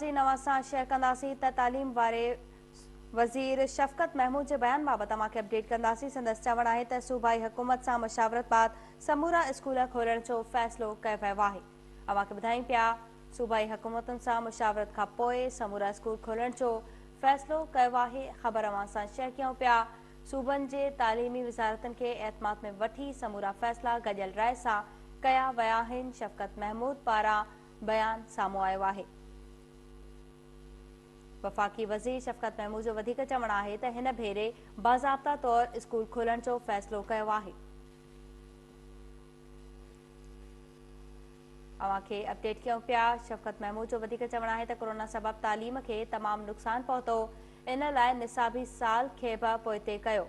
ناظرين اوهان سان شيئر ڪنداسين ته تعليم واري وزير شفقت محمود جي بيان بابت اوهان کي اپڊيٽ ڪنداسين سندس چوڻ آهي ته صوبائي حڪومت سان مشاورت بعد سمورا اسڪول کولڻ جو فيصلو ڪيو ويو آهي اوهان کي ٻڌايون پيا صوبائي حڪومتن سان مشاورت کان پوء سمورا اسڪول کولڻ جو فيصلو ڪيو آهي خبر اوهان سان شيئر ڪيون پيا صوبن جي تعليمي وزارتن کي اعتماد ۾ وٺي سمورا فيصلا گڏيل راء سان ڪيا ويا آهن شفقت محمود پاران بيان سامهون آيو آهي. وفاقي وزير شفقت محمود جو وڌيڪ چوڻ آهي ته هن ڀيري باضابطا طور اسڪول کولڻ جو فيصلو ڪيو آهي. اوهان کي اپڊيٽ ڪيون پيا شفقت محمود جو وڌيڪ چوڻ آهي ته ڪورونا سبب تعليم کي تمام نقصان پهتو ان لاء نصابي سال کي به پوئتي ڪيو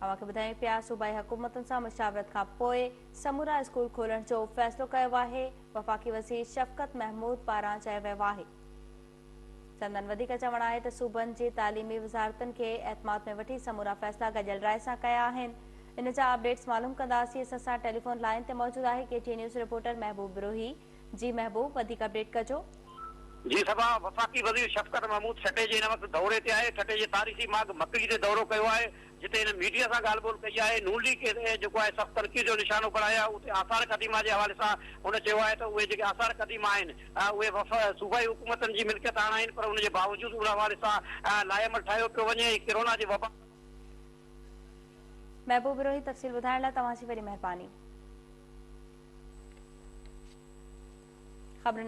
اوهان کي ٻڌايون پيا صوبائي حڪومتن سان مشاورت کان پوء سمورا اسڪول کولڻ جو فيصلو ڪيو آهي وفاقي وزير شفقت محمود پاران چيو ويو آهي سندن وڌيڪ چوڻ آهي ته صوبن جي تعليمي وزارتن کي اعتماد ۾ وٺي سمورا فيصلا گڏيل راء سان ڪيا آهن ان جا اپڊيٽس معلوم ڪنداسين سان سان ٽيليفون لائين تي موجود آهي K T news reporter Mehboob Brohi جي محبوب وڌيڪ اپڊيٽ ڪجو. جي صبا، وفاقي وزير شفقت محمود ٺٽي جي هن وقت دوري تي آهي، ٺٽي جي تاريخي ماڳ مڪڙي تي دورو ڪيو آهي، جتي هن ميڊيا سان ڳالهه ٻولهه ڪئي آهي، نون ليگ کيس جيڪو آهي سخت تنقيد جو نشانو بڻايو آهي، اتي آثار قديمه جي حوالي سان هن چيو آهي ته اهي جيڪي آثار قديمه آهن اهي وف صوبائي حڪومتن جي ملڪيت هاڻ آهن پر ان جي باوجود ان حوالي سان لائحه عمل ٺاهيو پيو وڃي ۽ ڪرونا جي وبا محبوب روهي تفصيل ٻڌائڻ لاء توهان جي وڏي مهرباني. خبرن